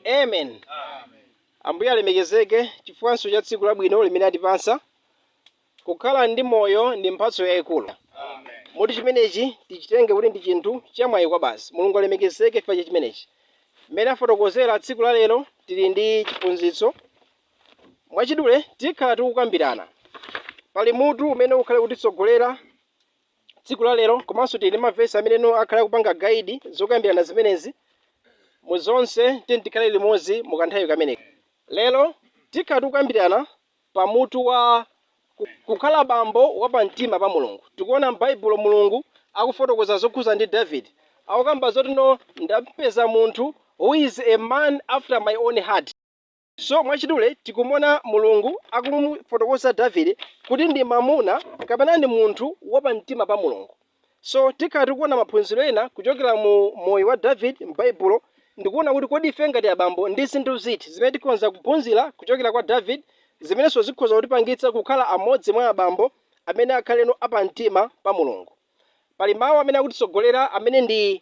Amen. Ambuye alemekezeke chifukwanso cha tsiku labwino limene atipatsa. Kukhala ndi moyo ndi mphatso yayikulu. Moti chimenechi tichitenge kuti ndi chinthu chamwayi kwa basi. Mulungu alemekezeke chifukwa cha chimenechi. Mmene afotokozera tsiku la lero tili ndi chiphunzitso. Mwachidule tikhala tikukambirana. Pali mutu umene ukhale kutitsogolera tsiku la lero komanso tili ndi mavesi amene no akhale akupanga guide zokambirana zimenezi mu zonse tiyeni tikhale limodzi mu kanthawi kameneka lero tikhala tikukambirana pa mutu wa ku- kukhala bambo wa pamtima pa mulungu tikuona m'baibulo mulungu akufotokoza zokhuza ndi david akukamba zoti no ndapeza munthu who is a man after my own heart So mwachidule tikumuona Mulungu akumufotokoza Davide kuti ndi mamuna kapena ndi munthu wa pamtima pa Mulungu. So tikhala tikuona maphunziro ena kuchokera mu moyo wa Davide m'Baibulo ndikuona kuti kodi ife ngati abambo ndi zinthu ziti zimene tikhonza kuphunzira kuchokera kwa Davide zimenenso zikhoza kutipangitsa kukhala amodzi mwa abambo amene akhaleno apamtima pa Mulungu. Pali mawu amene akutitsogolera amene ndi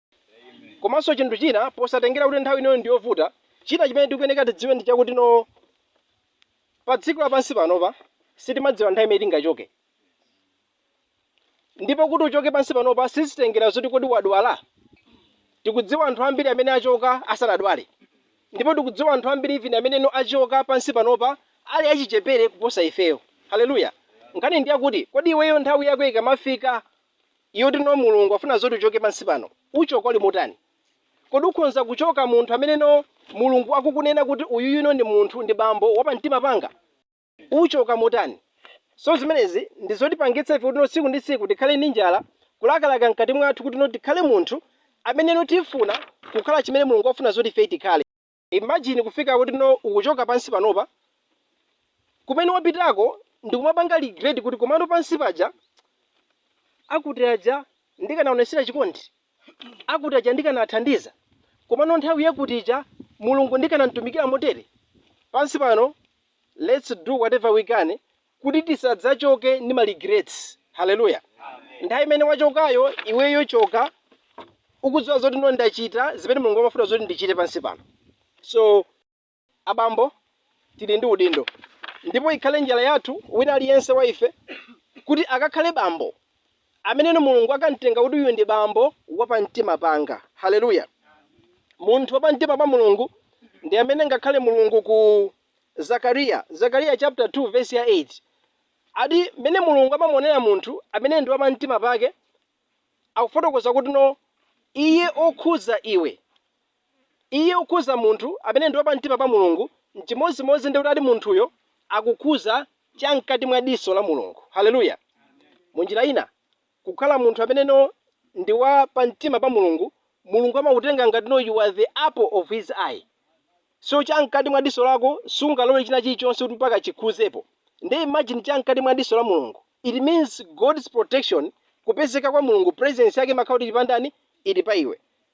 komanso chinthu china posatengera kuti nthawi inoyo ndiyovuta china chimene tikuyeneka tidziwe ndi chakuti no pa dziko lapansi panopa sitimadziwa nthawi imene tingachoke ndipo kuti uchoke pansi panopa sizitengera zoti kodi wadwala tikudziwa anthu ambiri amene achoka asanadwale ndipo tikudziwa anthu ambiri even amene no achoka pansi panopa ali achichepere kuposa ifeyo haleluya nkhani ndi yakuti kodi iweyo nthawi yako ikamafika Iyo yoti no mulungu afuna zoti uchoke pansi pano uchoka uli motani? Kodi ukhonza kuchoka munthu amene no mulungu akukunena kuti uyuyu no ndi munthu ndi bambo wa pamtima panga? Uchoka motani? So zimenezi ndi zotipangitsa ife kuti no tsiku ndi tsiku tikhale ndi njala kulakalaka mkati mwathu kuti no tikhale munthu amene no tifuna kukhala chimene mulungu afuna zoti ifeyi tikhale. imagine kufika kuti no ukuchoka pansi panopa kumene wapitako ndikumapanga regret kuti komano pansi paja akuti aja ndikanaonesera chikondi akuti aja ndikanathandiza komano nthawi yakuti ija mulungu ndikanamtumikira motere pansi pano let's do whatever we can kuti tisadzachoke ndi ma regrets hallelujah nthawi imene wachokayo iweyo choka ukudziwa zoti no ndachita zimene mulungu amafuna zoti ndichite pansi pano so abambo tili ndi udindo ndipo ikhale njala yathu wina aliyense wa ife kuti akakhale bambo ameneno mulungu akamtenga kuti uyu ndi bambo wapamtima panga haleluya munthu wapamtima pa mulungu ndi amene ngakhale mulungu ku Zakariya, Zekariya chapter 2 verse ya 8 ati mmene mulungu amamuonera munthu amene ndi wapamtima pake akufotokoza kuti no iye okhudza iwe iye okhudza munthu amene ndi wapamtima pa mulungu n'chimodzimodzi ndi kuti ati munthuyo akukhudza chamkati mwa diso la mulungu haleluya mu njira ina Kukhala munthu amene no ndi wa pa mtima pa Mulungu, Mulungu amakutenga ngati no you are the apple of His eye. So cha mkati mwa diso lako sungalore china chilichonse kuti mpaka chikhuzepo. Nde imagine cha mkati mwa diso la Mulungu. It means God's protection, kupezeka kwa Mulungu, presence yake imakhala kuti ili pa ndani? Ili pa iwe.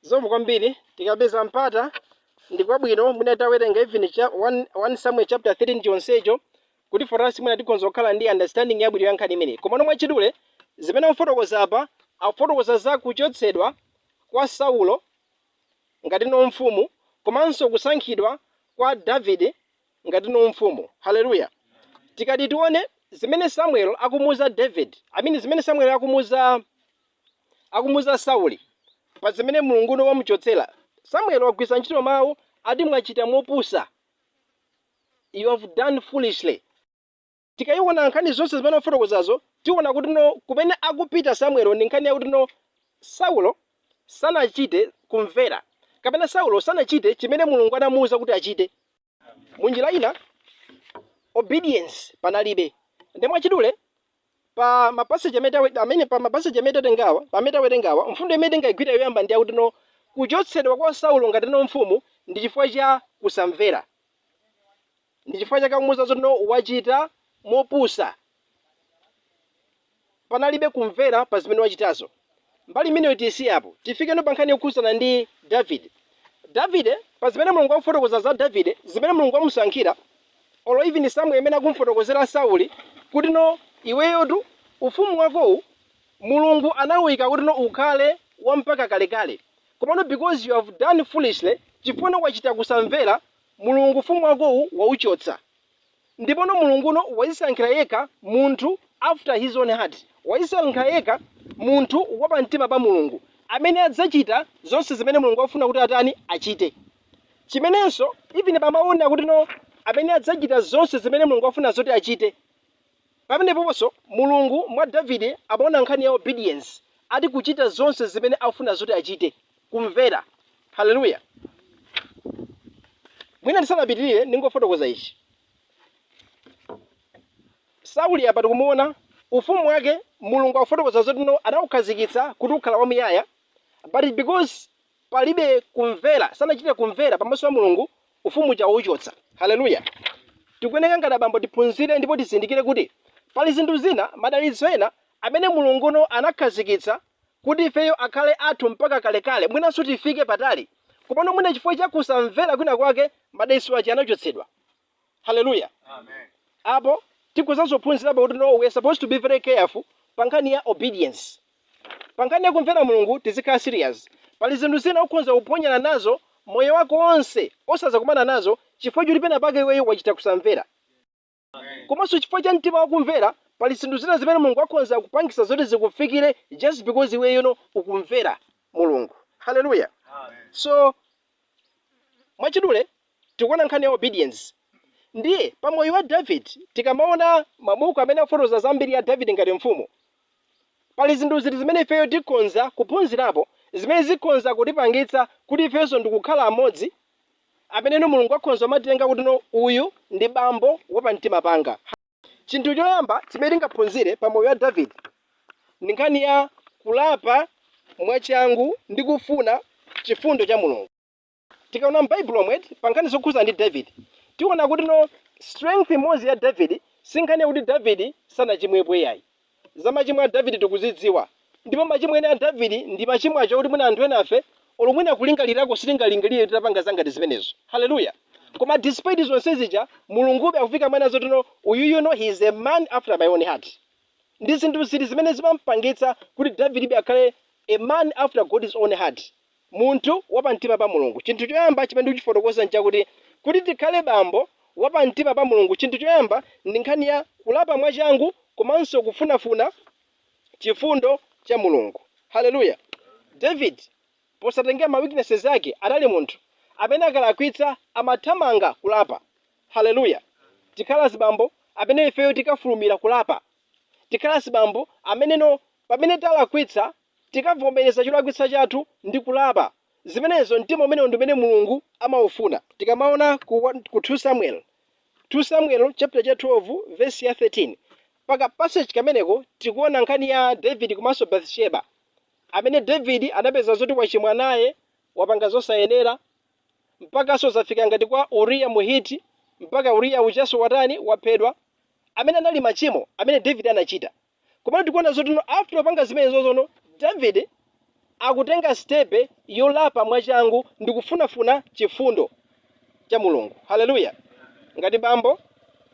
Zikomo kwambiri tikapeza mpata ndikwabwino mwina titawerenga even 1, 1 Samuel chapter 3 chonsecho kuti for us mwina tikhonza kukhala ndi understanding yabwino ya nkhani imeneyi komano mwachidule zimene akufotokoza apa akufotokoza za kuchotsedwa kwa Saulo ngati no mfumu komanso kusankhidwa kwa David ngati no mfumu haleluya tikati tione zimene Samuel akumuuza David I mean zimene Samuel akumuuza akumuuza Sauli pazimene Mulungu no wamuchotsera, Samuel wagwiritsa ntchito mawu ati mwachita mopusa, you have done foolishly. Tikayiwona nkhani zonse zimene wafotokozazo, tiwona kutino kumene akupita Samuel ndi nkhani yakutino Saulo sanachite kumvera kapena Saulo sanachite chimene Mulungu anamuwuza kuti achite. Munjira ina obedience panalibe. Nde mwachidule pa mapaseji amene tawe- amene pa mapaseji amene tatengawa amene tawerengawa mfundo imene tingaigwire yoyamba ndi yakuti no kuchotsedwa kwa Saulo ngati no mfumu ndi chifukwa cha kusamvera. Ndi chifukwa chake akumuuza zoti no wachita mopusa panalibe kumvera pa zimene wachitazo. Mbali imeneyo tiyisiye apo. Tifikeno pa nkhani yokhudzana ndi Davide. Davide, pa zimene Mulungu akufotokoza za Davide, zimene Mulungu wamusankhira, olo even Samuel imene akumfotokozera Sauli, kuti no iweyotu ufumu wakowu Mulungu anawuyika kuti no ukhale wa mpaka kalekale. Komano because you have done foolishly, chifukwa no wachita kusamvera, Mulungu ufumu wakowu wauchotsa. Ndipono Mulungu no wazisankhira yekha munthu after his own heart, wazisankhira yekha munthu wa pa mtima pa Mulungu, amene adzachita zonse zimene Mulungu akufuna kuti atani, achite. Chimenenso even pa mau onena kuti no, amene adzachita zonse zimene Mulungu akufuna zoti achite. Pamenepoponso, Mulungu mwa Davide amaona nkhani ya obedience, ati kuchita zonse zimene akufuna zoti achite, kumvera. Haleluya! Mwina ndisanapitirire, ndingofotokoza ichi. Sauli apa tikumuona ufumu wake, Mulungu akufotokoza zoti no, anaukhazikitsa kuti ukhala wamuyaya, but because palibe kumvera, sanachite kumvera pamaso pa Mulungu, ufumu uja wachotsa. Haleluya! Tikuyenera ngati abambo tiphunzire ndipo tizindikire kuti pali zinthu zina, madalitso ena amene Mulunguno anakhazikitsa kuti ifeyo akhale athu mpaka kalekale, mwinanso tifike patali. Komano mwina chifukwa cha kusamvera kwinakwake, madalitso aja anachotsedwa. haleluya apo tikuzaphunzirapo kuti no we are supposed to be very careful pa nkhani ya obedience pa nkhani ya kumvera mulungu tizikhala serious pali zinthu zina ukhonza kuphonyana nazo moyo wako wonse osazakumana nazo chifukwa choti pena pake iweyo wachita kusamvera komanso chifukwa cha mtima wakumvera pali zinthu zina zimene mulungu akhonza kupangisa zoti zikufikire just because iweyo no ukumvera mulungu haleluya so mwachidule tikuona nkhani ya obedience ndiye pa moyo wa David tikamaona mabuku amene afotokoza za mbiri ya David ngati mfumu pali zinthu ziti zimene ifeyo tikhonza kuphunzirapo zimene zikhonza kutipangitsa kuti ifenso tikukhala amodzi ameneno Mulungu akhonza kumatitenga kuti no uyu ndi bambo wa pamtima panga chinthu choyamba chimene tingaphunzire pa moyo wa David ndi nkhani ya kulapa mwachangu ndi kufuna chifundo cha Mulungu. Tikaona m'Baibulo lomwe pa nkhani zokhudzana ndi David, tiona kuti no strength imodzi ya David si nkhani yakuti David sanachimwepo iyayi. Za machimo a David tikuzidziwa, ndipo machimo ena a David ndi machimo aja oti mwina anthu enafe olo mwina kulingalirako sitingalingalire titapanga za ngati zimenezo. Haleluya! Koma despite zonse zija, Mulungube akufika ponena zoti no uyuyu no he is a man after my own heart. Ndi zinthu ziti zimene zimampangitsa kuti David ibe akhale a man after God's own heart? munthu wapamtima pa Mulungu. Chinthu choyamba chimene ndikuchifotokoza n'chakuti, kuti tikhale bambo wapamtima pa Mulungu, chinthu choyamba ndi nkhani ya kulapa mwachangu komanso kufunafuna chifundo cha Mulungu. Haleluya. David, posatengera ma weaknesses ake, anali munthu amene akalakwitsa amathamanga kulapa. Haleluya. Tikhale azibambo amene ifeyo tikafulumira kulapa. Tikhale azibambo ameneno pamene talakwitsa Tikamavomereza cholakwitsa chathu ndi kulapa zimenezo, mtima umenewo ndi umene Mulungu amaufuna. Tikamaona ku 1 ku 2 Samuel 2 Samuel chapter cha 12 verse ya 13 pa ka passage kameneko tikuona nkhani ya David komanso Bathsheba amene David anapeza zoti wachimwa naye wapanga zosayenera mpakanso zafika ngati kwa Uriya Muhiti mpaka Uriya ujanso watani waphedwa amene anali machimo amene David anachita Komano tikuona zotino after kupanga zimenezozono Davide akutenga step yolapa mwachangu ndi kufunafuna chifundo cha Mulungu. Hallelujah. Ngati abambo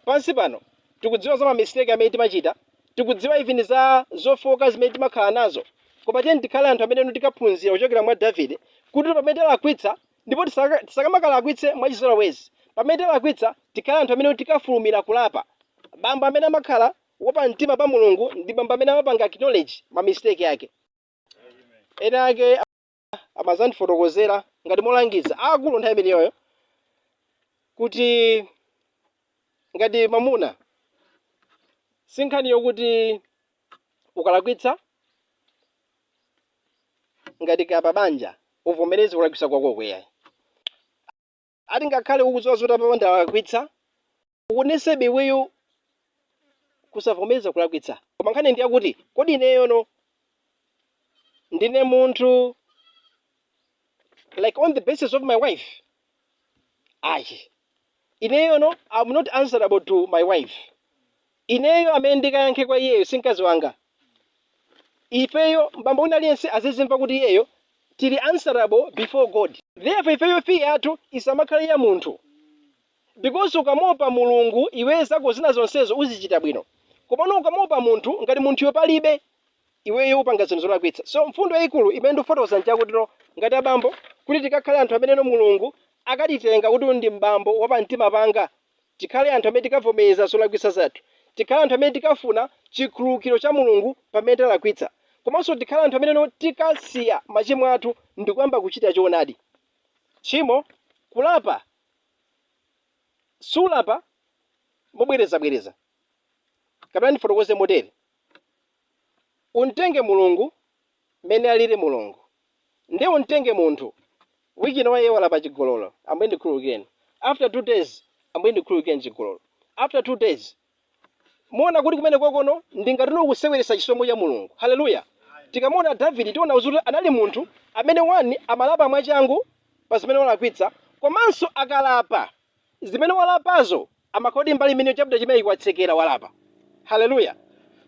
pansi pano tikudziwa za ma mistake amene timachita, tikudziwa even za zofooka zimene timakhala nazo. Koma tiyeni tikhale anthu amene tikaphunzira kuchokera mwa Davide kuti pamene talakwitsa ndipo tisaka- tisakamakalakwitse mwachizolowezi. Pamene talakwitsa tikhale anthu amene tikafulumira kulapa. Bambo amene amakhala Wa pamtima pa Mulungu ndi bambo amene amapanga acknowledge ma mistake ake. Ena ake amazandifotokozera ngati molangiza aakulu nthawi imeneyoyo kuti ngati mamuna si nkhani yokuti ukalakwitsa ngati kaya pa banja uvomereze kulakwitsa kwako ayi. ati ngakhale ukudziwa zoti apapa ndalakwitsa ukanebe iweyo kusavomereza kulakwitsa koma nkhani ndi yakuti kodi ineyono ndine munthu like on the basis of my wife ayi ineyono i'm not answerable to my wife Ineyo amene ndikayankhe kwa iyeyo si mkazi wanga. Ifeyo, m'bambo wina aliyense azizimva kuti iyeyo tili answerable before God. Therefore ifeyo fear yathu isamakhale ya munthu because ukamuopa Mulungu iweyo zako zina zonsezo uzichita bwino komano ukamuopa munthu ngati munthuyo palibe iweyo upanga zinthu zolakwitsa. So mfundo yaikulu imene ndikufotokoza njakutino ngati abambo kuti tikakhale anthu ameneno Mulungu akatitenga kuti uyu ndi m'bambo wapamtima panga Tikhale anthu amene tikavomereza zolakwitsa zathu. Tikhale anthu amene tikafuna chikhululukiro cha Mulungu pamene talakwitsa. Komanso tikhale anthu amene tikasiya machimo athu ndikuyamba kuchita choonadi. Tchimo, kulapa, sulapa mobwerezabwereza. Kapena ndifotokoze motere. Umtenge Mulungu mmene aliri Mulungu. Nde umtenge munthu week ino iye walapa chigololo, Ambuye ndikhululukireni, after two days Ambuye ndikhululukireni chigololo, after two days. Muona kuti kumenekokono ndi ngatino kuseweretsa chisomo cha Mulungu. Hallelujah. Tikamuona Davide tiona kuti anali munthu amene one amalapa mwachangu pa zimene walakwitsa komanso akalapa zimene walapazo Amakhala mbali imene chapter chimenechi watsekera walapa? Hallelujah.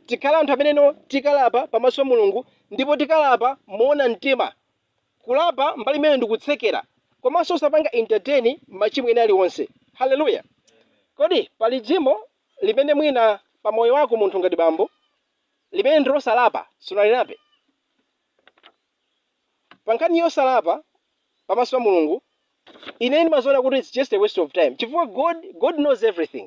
Tikhale anthu ameneno tikalapa pamaso pa Mulungu ndipo tikalapa moona mtima. Kulapa mbali imene ndikutsekera komanso osapanga entertain machimo ena alionse. Hallelujah. Kodi pali chimo limene mwina pa moyo wako munthu ngati bambo limene ndilosalapa sunalilape? pa nkhani yosalapa pamaso pa mulungu ine ndimaziona kuti its just a waste of time chifukwa god god knows everything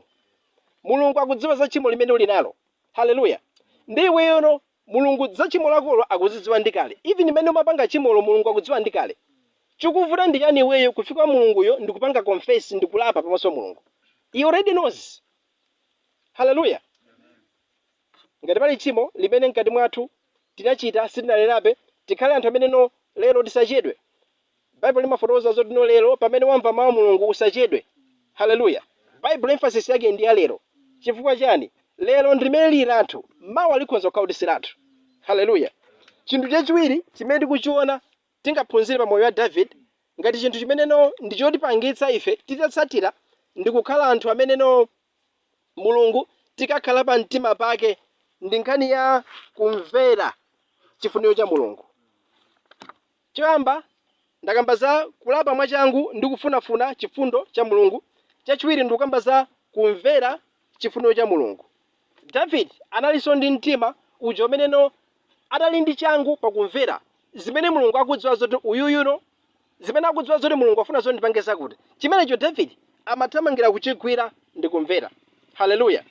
mulungu akudziwa za tchimo limene uli nalo haleluya ndi iweyono mulungu za tchimo lakolo akuzidziwa ndi kale even imene umapanga tchimolo mulungu akudziwa ndi kale chikuvuta ndi chiyani iweyo kufika kwa mulunguyo ndikupanga confess ndikulapa pamaso pa mulungu he already knows haleluya Ngati pali tchimo limene mkati mwathu tinachita sitinalilape, tikhale anthu amene no lero tisachedwe. Bible limafotokoza zoti no lero pamene wamva mau a Mulungu usachedwe. Hallelujah. Bible emphasis yake ndi ya lero. Chifukwa chani? Lero ndi limene lili lathu. Mawa likhonza kukhala kuti si lathu. Hallelujah. Chinthu chachiwiri chimene tikuchiona tingaphunzire pa moyo wa Davide, ngati chinthu chimene no ndi chotipangitsa ife titatsatira ndi kukhala anthu amene no Mulungu tikakhala pa mtima pake, ndi nkhani ya kumvera chifuniro cha Mulungu. Choyamba, ndakamba za kulapa mwachangu ndi kufunafuna chifundo cha Mulungu, chachiwiri ndikukamba za kumvera chifuniro cha Mulungu. Davide analinso ndi mtima uja umene no adali ndi changu pakumvera zimene Mulungu akudziwa zoti uyuyu no zimene akudziwa zoti Mulungu afuna zoti ndipange zakuti. Chimenecho Davide amathamangira kuchigwira ndi kumvera. Hallelujah.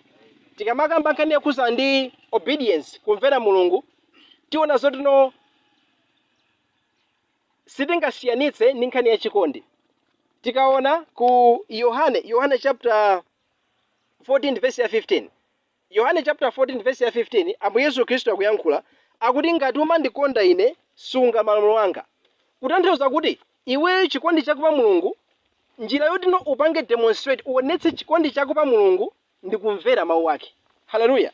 Tikamakamba nkhani yokhuzana ndi obedience, kumvera Mulungu, tiona zoti no sitingasiyanitse ndi nkhani ya chikondi. Tikaona ku Yohane, Yohane chapter 14 vesi ya 15 Yohane chapter 14 vesi ya 15 Ambuye Yesu Khristu akuyankhula akuti ngati umandikonda ine sunga malamulo anga kutanthauza kuti iweyo chikondi chako pa Mulungu njira yoti no upange demonstrate uonetse chikondi chako pa Mulungu ndi kumvera mawu ake haleluya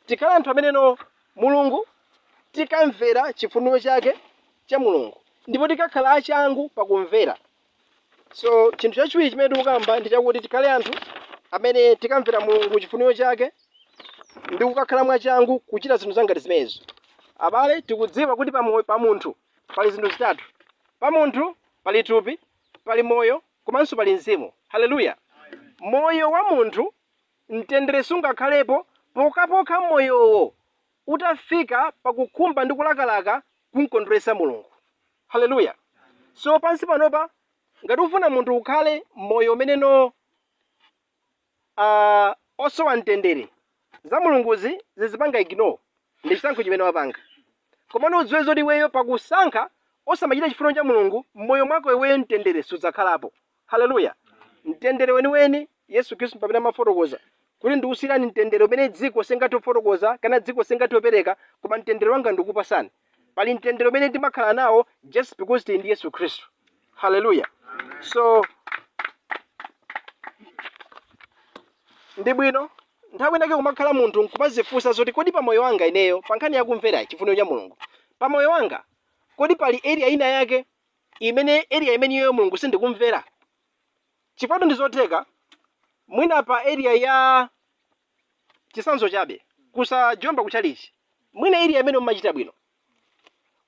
tikhale anthu amene no Mulungu tikamvera chifuniro chake cha Mulungu ndipo tikakhala achangu pakumvera So chinthu chachiwiri chimene tikukamba ndi chakuti tikhale anthu amene tikamvera Mulungu chifuniro chake ndi kukakhala mwachangu kuchita zinthu zangati zimenezo. Abale, tikudziwa kuti pa moyo pa munthu pali zinthu zitatu. Pa munthu pali thupi, pali moyo, komanso pali mzimu. Haleluya! Moyo wa munthu mtendere sungakhalepo pokhapokha moyowo utafika pakukhumba ndi kulakalaka kumkondweretsa Mulungu. Haleluya! So, pansi panopa, ngati ukufuna munthu ukhale moyo umene no ah, osowa mtendere, za Mulunguzi uzizipanga ignore, ndi chisankho chimene wapanga. Komano udziwe zoti iweyo pakusankha osamachita chifuniro cha Mulungu, m'moyo mwako iweyo mtendere sudzakhalapo. Haleluya! Mtendere weniweni, Yesu Khristu ndi pamene amafotokoza kuti ndikusiyirani mtendere umene dziko silingathe kufotokoza kapena dziko silingathe kupereka, koma mtendere wanga ndikupatsani. Pali mtendere umene timakhala nawo just because tili ndi Yesu Khristu. Haleluya! So, ndi bwino nthawi inake kumakhala munthu nkumadzifunsa zoti kodi pa moyo wanga ineyo pa nkhani yakumvera chifuniro cha mulungu pa moyo wanga kodi pali area ina yake imene area imeniyoyo mulungu sindikumvera chifukwatu ndizotheka mwina pa area ya chitsanzo chabe kusajomba kuchalichi mwina area imeneyo mumachita bwino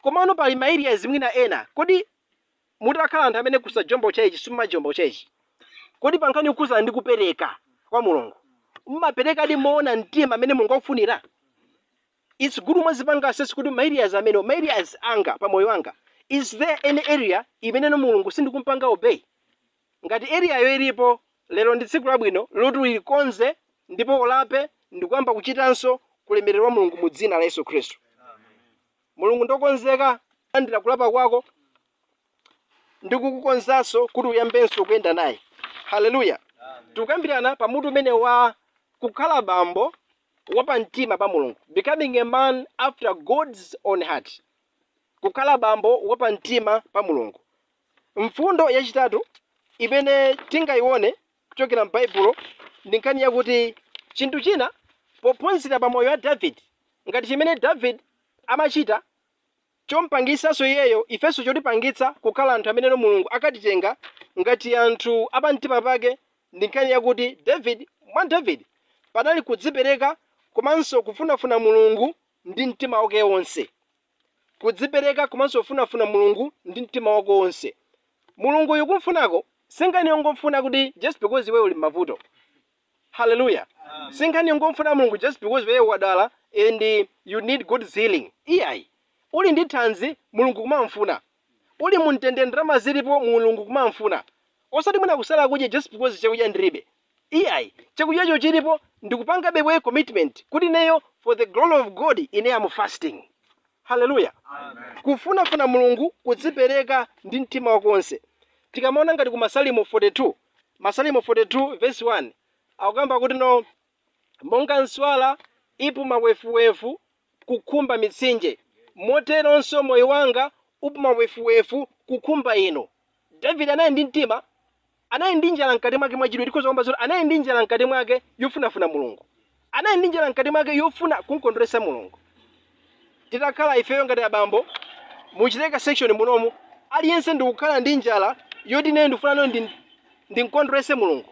komano pali ma areas mwina ena kodi mutakhala anthu amene kusajomba kuchalichi simumajomba kuchalichi kodi pankhani yokhuzana ndi kupereka kwa mulungu mumaperekadi moona mtima mmene mulungu akufunira its good kumadzipanga assess kuti ma areas amene ma areas anga pa moyo wanga is there any area imeneno mulungu sindikumpanga obey ngati areayo ilipo lero ndi tsiku labwino loti uikonze ndipo ulape ndikuyamba kuchitanso ku ulemerero wa mulungu mu dzina la yesu khristu mulungu ndiwokonzeka kulandira kulapa kwako ndikukukonzanso kuti uyambenso kuyenda naye haleluya tikukambirana pa mutu umene wa kukhala bambo wapamtima pa Mulungu, becoming a man after God's own heart, kukhala bambo wapamtima pa Mulungu. Mfundo yachitatu imene tingaone kuchokera m'Baibulo ndi nkhani yakuti chinthu china pophunzira pa moyo wa David ngati chimene David amachita Chompangitsanso iyeyo, ifenso chotipangitsa kukhala anthu ameneno Mulungu akatitenga ngati anthu a pamtima pake ndi nkhani yakuti David, mwa David panali kudzipereka komanso kufunafuna Mulungu ndi mtima wake wonse. Kudzipereka komanso kufunafuna Mulungu ndi mtima wako wonse. Mulunguyu kumfunako si nkhani yongomfuna kuti just because iweyo uli m'mavuto. Hallelujah. Sinkhani yongomfuna Mulungu just because iweyo wadwala and you need God's healing. Iyayi. Uli ndi thanzi Mulungu kumamfuna. Uli mumtendere ndalama zilipo Mulungu kumamfuna. Osati mwina kusala kudya just because chakudya ndilibe. Iyayi. Chakudyacho chilipo nkupangabe commitment kuti ineyo for the glory of God ine am fasting. Hallelujah. Kufunafuna Mulungu kudzipereka ndi mtima wako wonse. Tikamaona ngati ku Masalimo 42 Masalimo 42 vesi 1 akukamba kuti no monga nswala ipuma wefuwefu kukhumba mitsinje, moteronso moyo wanga upuma wefuwefu kukhumba inu. Davide anali ndi mtima, anali ndi njala mkati mwake mwa chidwi, tikhoza kukamba zoti anali ndi njala mkati mwake yofunafuna Mulungu. Anali ndi njala mkati mwake yofuna kumkondweretsa Mulungu. Titakhala ifeyo ngati abambo mu chileka section munomu, aliyense ndikukhala ndi njala yoti ineyo ndikufuna nayo ndi ndimkondweretse Mulungu.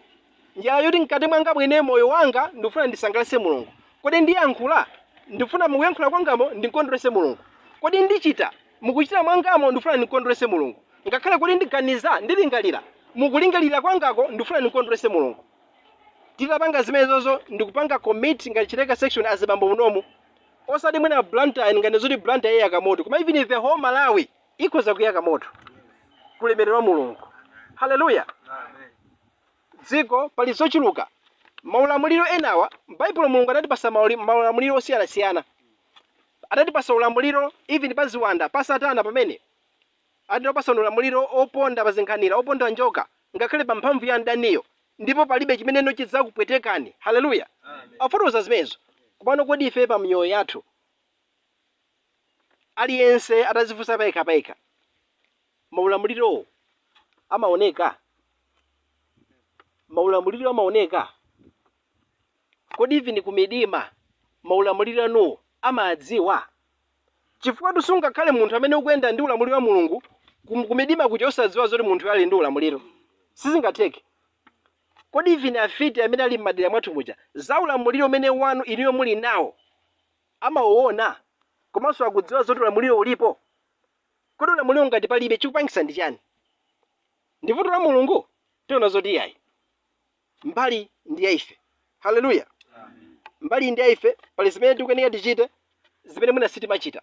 Njala yoti mkati mwanga mwene moyo wanga ndikufuna ndisangalatse Mulungu. Kodi ndiyankhula? Ndikufuna mukuyankhula kwangamo ndimkondweretse Mulungu. Kodi ndichita? Mukuchita mwangamo ndikufuna ndimkondweretse Mulungu. Ngakhale kuti ndiganiza, ndilingalira, mukulingalira kwangako ndikufuna ndimkondweretse Mulungu. titapanga zimenezozo ndikupanga commit ngati chileka section azibambo munomu osati mwina blantyre ngati zoti blantyre iyaka moto koma even the whole malawi ikhoza kuyaka moto ku ulemerero wa mulungu haleluya dziko pali zochuluka maulamuliro enawa baibulo mulungu adatipasa mauli- maulamuliro osiyanasiyana adatipasa ulamuliro even pa ziwanda pa satana pamene Ati ndakupasani ulamuliro oponda pa zinkhanira, oponda njoka, ngakhale pa mphamvu ya mdaniyo, ndipo palibe chimene chidzakupwetekani. Haleluya! Akufotokoza zimenezo. Komano kodi ife pa miyoyo yathu, aliyense atadzifunsa payekha payekha, maulamulirowo amaoneka? Maulamuliro amaoneka? Kodi even kumidima maulamuliro anuwo amadziwa? Chifukwa sungakhale munthu amene ukuyenda ndi ulamuliro wa Mulungu kum- kumidima kuja osadziwa zoti munthuyo ali ndi ulamuliro. Sizingatheke. Kodi even afiti amene ali m'madera mwathu muja za ulamuliro umene wanu inuyo muli nawo amauona komanso akudziwa zoti ulamuliro ulipo? Kodi ulamuliro ngati palibe chikupangisa ndi chani? Ndi vuto la Mulungu? Tiona zoti iyayi. mbali ndi ya ife haleluya mbali ndi ya ife pali zimene tikuyenera tichite zimene mwina sitimachita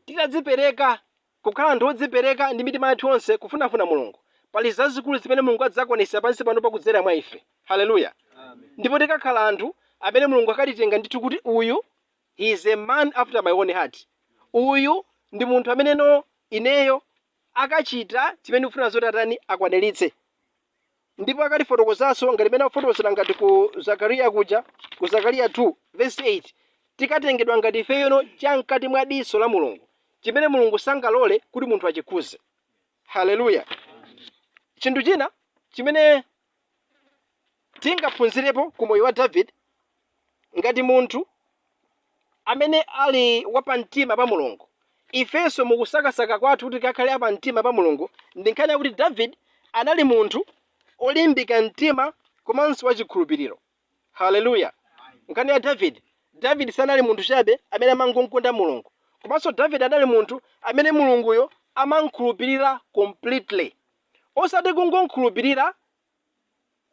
titadzipereka kukhala anthu odzipereka ndi mitima yathu yonse kufunafuna mulungu pali zazikulu zimene mulungu adzakwanisa pansi pano pakudzera mwa ife haleluya ndipo tikakhala anthu amene mulungu akatitenga ndithu kuti uyu he is a man after my own heart uyu ndi munthu amene ineyo akachita chimene ndikufuna zoti atani akwaniritse Ndipo akatifotokozanso ngati mmene akufotokozera ngati ku Zakariya kuja, ku Zakariya 2 vesi 8 tikatengedwa ngati ifeyo cha mkati mwa diso la Mulungu, chimene Mulungu sangalole kuti munthu achikhuze. Haleluya! Chinthu china chimene tingaphunzirepo ku moyo wa Davide, ngati munthu amene ali wapamtima pa Mulungu. Ifenso mu kusakasaka kwathu kuti tikakhale apamtima pa Mulungu, ndi nkhani yakuti Davide anali munthu olimbika mtima komanso wachikhulupiriro. Haleluya! Nkhani ya Davide, Davide sanali munthu chabe amene amangomkonda Mulungu, komanso Davide anali munthu amene Mulunguyo amamkhulupirira completely. Osati kungomkhulupirira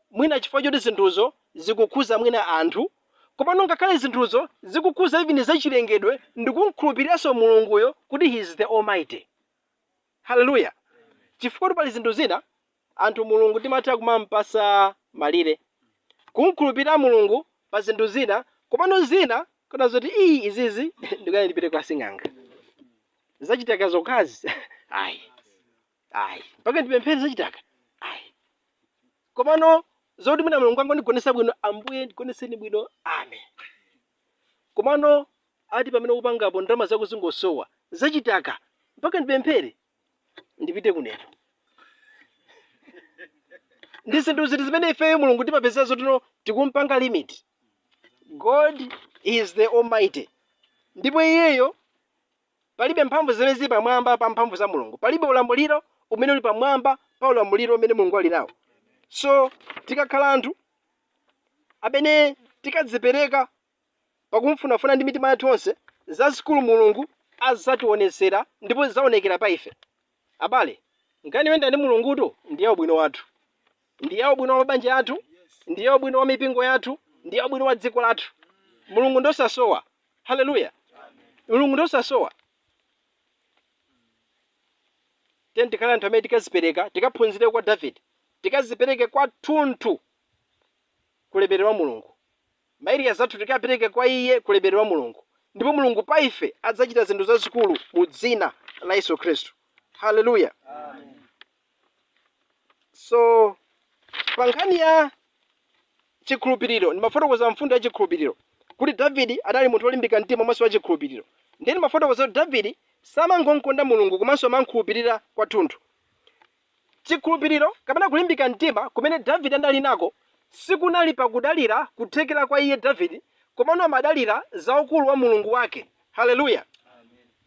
mwina chifukwa choti zinthuzo zikukhuza mwina anthu, komano ngakhale zinthuzo zikukhuza even zachilengedwe ndikum'khulupiriranso Mulunguyo kuti he is the Almighty. Hallelujah! Chifukwa pali zinthu zina anthu Mulungu timatha kumam'patsa malire, kum'khulupirira Mulungu pa zinthu zina, komano zina kuona zoti ii izizi ndikuyenera ndipite kwa sing'anga. Zachitaka zokhazi? Ayi. ayi mpaka ndipemphere zachitaka ayi komano zoti mwina mulungu angondigonesa bwino ambuye ndigoneseni bwino amen komano ati pamene ukupangapo ndalama zako zingosowa zachitaka mpaka ndipemphere ndipite kunena ndi zinthu ziti zimene ifeyo mulungu timapezera zotino tikumpanga limit god is the almighty ndipo iyeyo Palibe mphamvu zimene zili pamwamba pa mphamvu za Mulungu. Palibe ulamuliro umene uli pamwamba pa ulamuliro umene Mulungu ali nawo. So tikakhala anthu amene tikadzipereka pakumfunafuna ndi mitima yathu yonse, zazikulu Mulungu adzationetsera ndipo zidzaonekera pa ife. Abale, nkhani yoyenda ndi Mulungutu ndi ya ubwino wathu, ndi ya ubwino wa mabanja athu, ndi ya ubwino wa mipingo yathu, ndi ya ubwino wa dziko lathu. Mulungu ndi osasowa. Haleluya! Mulungu ndi osasowa. Tiyeni tikhale anthu amene tikazipereka, tikaphunzire kwa Davide, tikazipereke kwathunthu ku ulemerero wa Mulungu. ma area athu tikapereke kwa iye ku ulemerero wa Mulungu ndipo Mulungu pa ife adzachita zinthu zazikulu mu dzina la Yesu Khristu. Hallelujah. So pa nkhani ya chikhulupiriro ndimafotokoza mfundo ya chikhulupiriro kuti Davidi adali munthu olimbika mtima komanso wa chikhulupiriro. Ndiye ndimafotokoza kuti Davidi samangonkonda Mulungu komanso amamkhulupirira kwathunthu. Chikhulupiriro kapena kulimbika mtima kumene Davide anali nako sikunali pa kudalira kuthekera kwa iye Davide komano amadalira za ukulu wa Mulungu wake. Haleluya!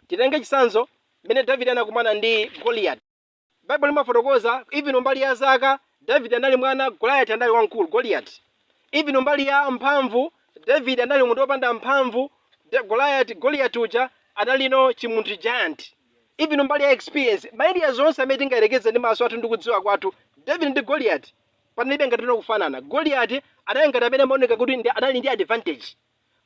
Titenge chitsanzo mmene Davide anakumana ndi Goliati. Baibulo limafotokoza even mbali ya zaka, Davide anali mwana, Goliati anali wamkulu, Goliati. Even mbali ya mphamvu, Davide anali munthu opanda mphamvu, Goliati, Goliati uja analino chimunthu giant. even mbali ya experience ma areas onse amene tingayerekeze ndi maso athu ndi kudziwa kwathu david ndi goliati panalibe ngatino kufanana goliati anali ngati amene amaoneka kuti ndi- anali ndi advantage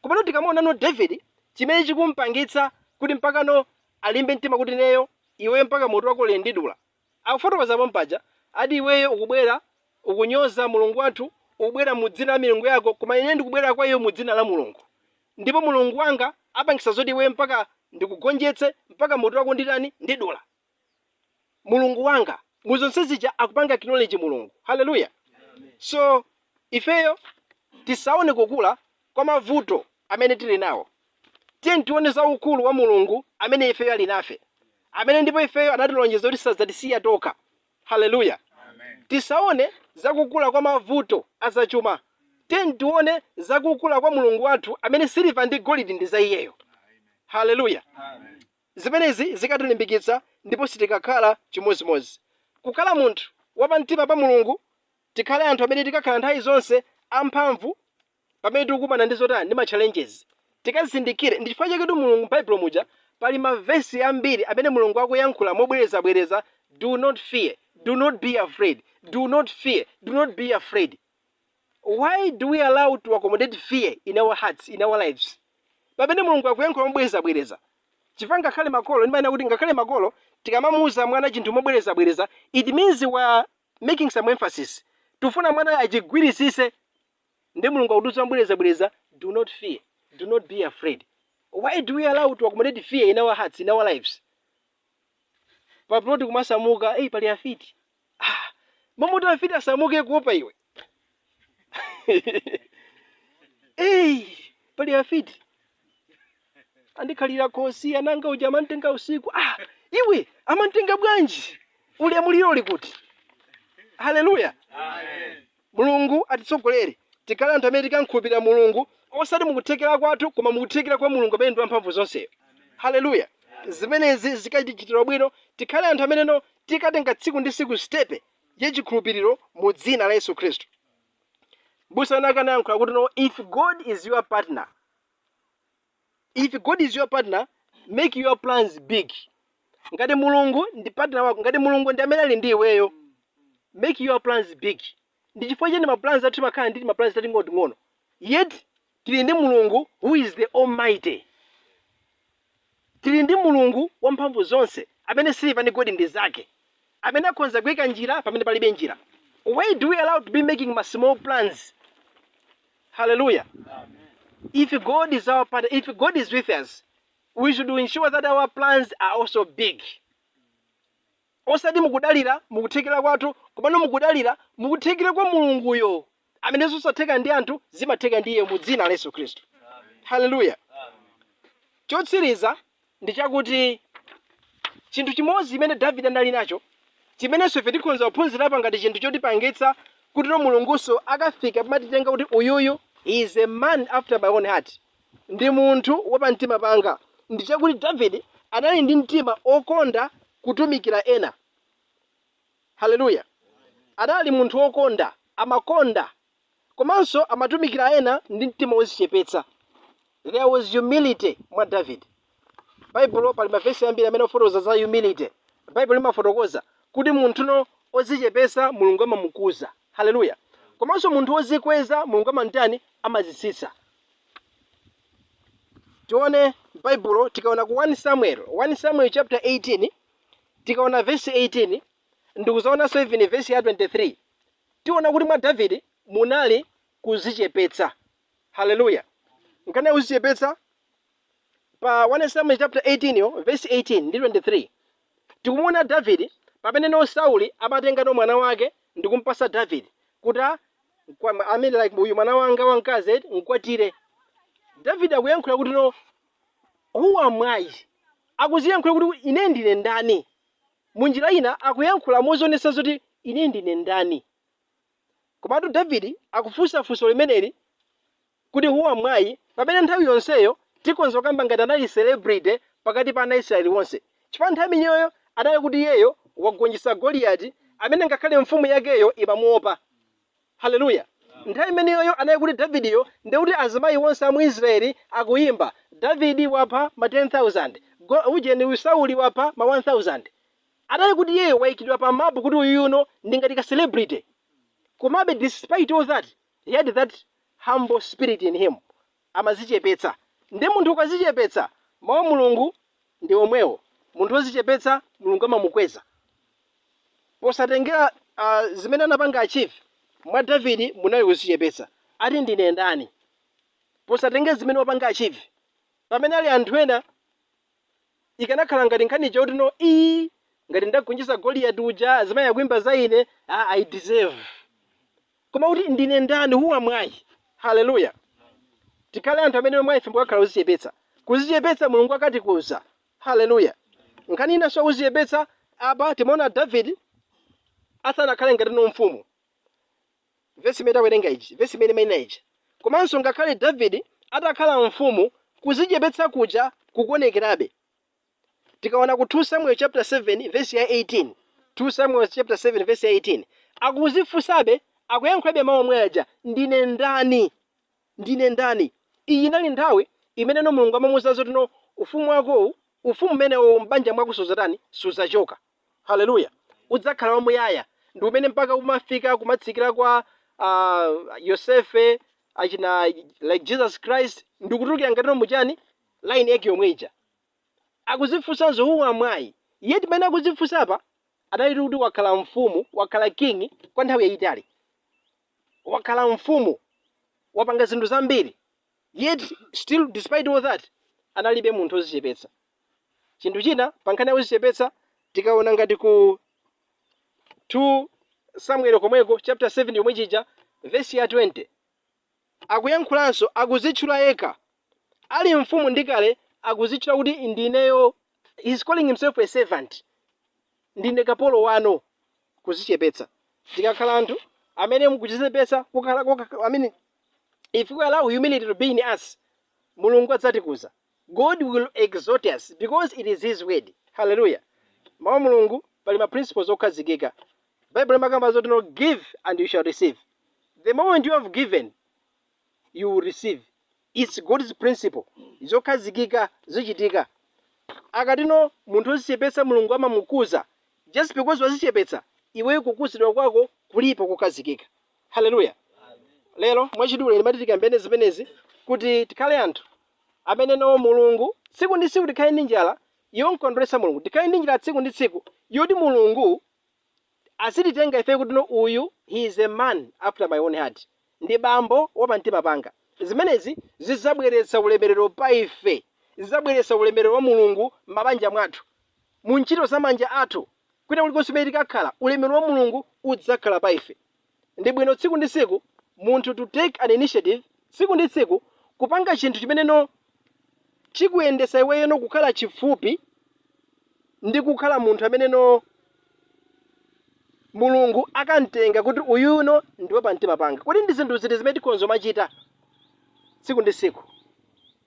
komano tikamuonano david chimene chikumpangitsa kuti mpakano alimbe mtima kuti neyo iweyo mpaka mutu wakowu ndidula akufotokoza pompaja ati iweyo ukubwera ukunyoza mulungu wathu ukubwera mu dzina la milungu yako koma ine ndikubwera kwa iwe mu dzina la mulungu Ndipo Mulungu wanga apangisa zoti iwe mpaka ndikugonjetse mpaka mutu wako nditani, ndidula. Mulungu wanga mu zonse zija akupanga acknowledge Mulungu. Hallelujah. So ifeyo tisaone kukula kwa mavuto amene tili nawo. Tiyeni tione za ukulu wa Mulungu amene ifeyo ali nafe. Amene ndipo ifeyo anatilonjeza kuti sadzatisiya tokha. Haleluya! Tisaone za kukula kwa mavuto a zachuma, tiyeni tione za kukula kwa Mulungu wathu amene siliva ndi golidi ndi za Iyeyo. Haleluya! Zimenezi zikatilimbikitsa ndipo sitikakhala chimodzimodzi. Kukhala munthu wapamtima pa Mulungu, tikhale anthu amene tikakhala nthawi zonse amphamvu. pamene tikukumana ndi zotani, ndi ma challenges, tikazindikire ndi chifukwa chaketu Mulungu m'Baibulo muja pali ma verse ambiri amene Mulungu akuyankhula mobwereza bwereza do not fear, do not be afraid, do not fear, do not be afraid. Why do we allow to accommodate fear in our hearts, in our lives? Pamene Mulungu akuyankhula mobwereza bwereza. Chifukwa ngakhale makolo, ndimanena kuti ngakhale makolo tikamamuuza mwana chinthu mobwereza bwereza, it means we are making some emphasis. Tufuna mwana achigwirisise nde mulungu akutiuza mobwereza bwereza do not fear, do not be afraid why do we allow to accommodate fear in our hearts, in our lives pa plot kumasamuka ei pali afiti ah, m'malo moti afiti asamuke kuopa iwe ei pali afiti andikhalira khosi anangauja amanditenga usiku ah, iwe amakutenga bwanji ulemuliro uli kuti haleluya Mulungu atitsogolere tikhale anthu amene tikamkhulupilira Mulungu osati mukuthekera kwathu koma mukuthekera kwa Mulungu amene ndi wamphamvu zonseyo. Hallelujah zimenezi zikatichitira ubwino tikhale anthu amene no tikatenga tsiku ndi tsiku sitepe ya chikhulupiliro mu dzina la Yesu Khristu. Mbusa wina ake anayankhula kuti no if God is your partner, If God is your partner, make your plans big. Ngati Mulungu ndi partner wako, ngati Mulungu ndi amene ali ndi iweyo, make your plans big. Ndi chifukwa chani ma plans athu timakhala ndi ma plans tating'onoting'ono. Yet tili ndi Mulungu who is the almighty. Tili ndi Mulungu wamphamvu zonse amene siliva ndi golidi ndi zake. Amene akhonza kuika njira pamene palibe njira. Why do we allow to be making ma small plans? Hallelujah. If God is our partner, if God is with us, we should ensure that our plans are also big. Osati mukudalira mukuthekera kwathu, komano mukudalira mukuthekera kwa Mulunguyo. Amene zosatheka ndi anthu zimatheka ndi iye mu dzina la Yesu Khristu. Hallelujah. Chotsiriza ndi chakuti chinthu chimodzi chimene Davide anali nacho chimenenso ife tikhonza kuphunzirapo ngati chinthu chotipangitsa kuti no Mulungunso akafika pomatitenga kuti uyuyu he is a man after my own heart ndi munthu wapamtima panga ndi chakuti Davide anali ndi mtima okonda kutumikira ena haleluya anali munthu wokonda amakonda komanso amatumikira ena ndi mtima wozichepetsa. There was humility mwa Davide. Baibulo pali mavesi ambiri amene amafotokoza za humility. Baibulo limafotokoza kuti munthuno ozichepesa Mulungu amamukuza. Haleluya. Komanso munthu wozikweza Mulungu amamtani amamutsitsa. Tione Baibulo tikaona ku 1 Samuel, 1 Samuel chapter 18 tikaona vesi 18 ndi kuzaonanso even vesi ya 23 Tiona kuti mwa Davide munali kuzichepetsa. Hallelujah. Nkhani ya kuzichepetsa pa 1 Samuel chapter 18yo verse 18 ndi 23. Tikumuona Davide pamene no Sauli amatenga no mwana wake ndi kumpasa Davide kuti a- kwa- I mean like uyu mwana wanga wamkazi eti mkwatire. Davide akuyankhula kuti no who am I? Akuziyankhula kuti ine ndine ndani? Mu njira ina, akuyankhula mozionetsa zoti Ine ndine ndani. Komatu David akufunsa funso limeneli kuti Who am I? pamene nthawi yonseyo tikhonza kukamba ngati anali celebrity pakati pa ana a Israeli onse. Chifukwa nthawi imeneyoyo anali kuti iyeyo wagonjetsa Goliati amene ngakhale mfumu yakeyo imamuopa. Haleluya! Nthawi imeneyoyo anali kuti Davidiyo ndi kuti azimayi onse a mu Israeli akuyimba, Davidi wapha ma 10,000, go, ujeni uyu Sauli wapha ma 1000. Anali kuti iyeyo wayikidwa pa map kuti uyuyuno ndi ngati ka celebrity. Komabe despite all that, he had that humble spirit in him. amazichepetsa nde munthu ukazichepetsa mau a Mulungu ndi omwewo munthu ozichepetsa Mulungu amamukweza posatengera a zimene anapanga achieve mwa David munali kuzichepetsa ati ndine ndani posatengera zimene wapanga achieve pamene pali anthu ena ikanakhala ngati nkhani ija kuti no ii ngati ndagonjesa Goliati uja azimayi akuimba za ine ah I deserve Koma kuti ndine ndani, who am I? Hallelujah. Tikhale anthu amene mwa ife mukakhala kuzichepetsa. Kuzichepetsa Mulungu akatikuza. Hallelujah. Nkhani inanso ya kuzichepetsa apa timaona David asanakhale ngati no mfumu. Vesi imene tawerenga iji, vesi imene imaina iji. Komanso ngakhale David atakhala mfumu kuzichepetsa kuja kukuonekerabe. Tikaona ku 2 Samuel chapter 7 verse ya 18, 2 Samuel chapter 7 verse ya 18, akuzifunsabe, akuyankhulabe mawu omwe aja, ndine ndani? Ndine ndani? Iyi inali nthawi imeneno Mulungu amamuuza zoti no ufumu wakowu, ufumu umenewo m'banja mwako sudzatani?, sudzachoka. Haleluya. Udzakhala wamuyaya. Ndi umenewo mpaka umafika kumatsikira kwa ah, Yosefe achina like Jesus Christ ndikutulukira ngatino muchani line yake yomwe ija. akuzifunsanso who am I yet pamene akuzifunsa apa analitu kuti wakhala mfumu wakhala king kwa nthawi yayitali wakhala mfumu wapanga zinthu zambiri yet still despite all that anali be munthu ozichepetsa chinthu china pankhani ya kuzichepetsa tikaona ngati ku 2 samuel komweko chapter 7 yomweyija vesi ya 20 akuyankhulanso akuzitchula yekha Ali mfumu ndi kale akuzitchula kuti ineyo he's calling himself a servant ndine kapolo wano kuzichepetsa tikakhala anthu amene tikuzichepetsa kukhala I mean if we allow humility to be in us Mulungu adzatikuza God will exalt us because it is his word. Hallelujah. Mawu a Mulungu pali ma principles okhazikika. Bible limakamba zoti no give and you shall receive. The moment you have given, you will receive. It's God's principle. Zokhazikika zichitika. akatino munthu ozichepetsa mulungu amamukuza just because wazichepetsa iweyo kukuzidwa kwako kulipo kokhazikika Haleluya! Lero mwachidule ndimati tikambirane zimenezi kuti tikhale anthu amene no Mulungu tsiku ndi tsiku tikhale ndi njala yomkondweretsa Mulungu, tikhale ndi njala tsiku ndi tsiku yoti Mulungu azititenga ife kuti no uyu he is a man after my own heart, ndi bambo wa pamtima panga. Zimenezi zidzabweretsa ulemerero pa ife, zidzabweretsa ulemerero wa Mulungu m'mabanja mwathu. mu ntchito za manja athu, kwina kulikonse kumene tikakhala, ulemerero wa Mulungu udzakhala pa ife. Ndi bwino tsiku ndi tsiku munthu to take an initiative tsiku ndi tsiku kupanga chinthu chimene no chikuyendesa iweyo no kukhala chifupi ndi kukhala munthu amene no Mulungu akamtenga kuti uyu no ndi wa pa mtima panga. Kodi ndi zinthu ziti zimene tikhonza kumachita tsiku ndi tsiku?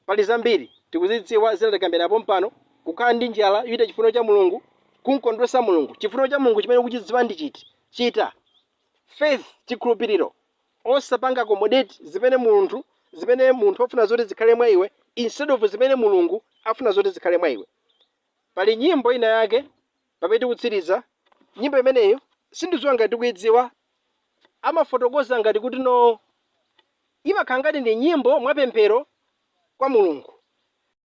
Pali zambiri tikuzidziwa, zina takambirana pompano, kukhala ndi njala yochita chifuniro cha Mulungu, kumkondweretsa Mulungu, chifuniro cha Mulungu chimene ukuchidziwa ndi chiti, chita, faith, chikhulupiriro, osapanga accommodate zimene munthu zimene munthu afuna zoti zikhale mwa iwe instead of zimene Mulungu afuna zoti zikhale mwa iwe. Pali nyimbo ina yake. Pamene tikutsiriza, nyimbo imeneyo sindidziwa ngati tikuidziwa, imafotokoza ngati kuti no imakhala ngati ndi nyimbo mwapemphero kwa Mulungu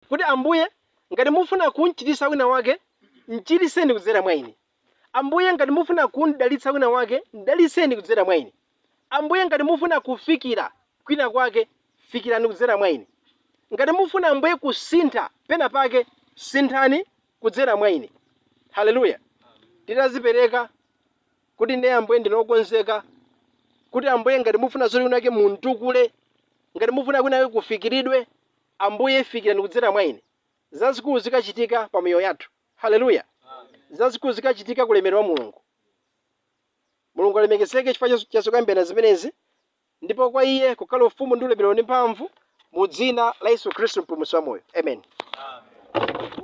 kuti Ambuye ngati mufuna kumchiritsa wina wake, mchiritseni kudzera mwa ine. Ambuye ngati mufuna kumdalitsa wina wake, mdalitseni kudzera mwa ine. Ambuye ngati mufuna kufikira kwina kwake, fikirani kudzera mwa ine. Ngati mufuna Ambuye kusintha pena pake, sinthani kudzera mwa ine. Haleluya! Titadzipereka kuti ne Ambuye ndine okonzeka kuti Ambuye ngati mufuna zoti kunake muntukule, ngati mufuna kunake kufikiridwe, Ambuye fikirani kudzera mwa ine. Zazikulu zikachitika pa miyoyo yathu. Haleluya! Zazikulu zikachitika ku ulemerero wa Mulungu. Mulungu alemekezeke chifukwa cha- cha zokambirana zimenezi, ndipo kwa iye kukhale ufumu ndi ulemerero ndi mphamvu mu dzina la Yesu Khristu mpulumutsi wa moyo. Amen.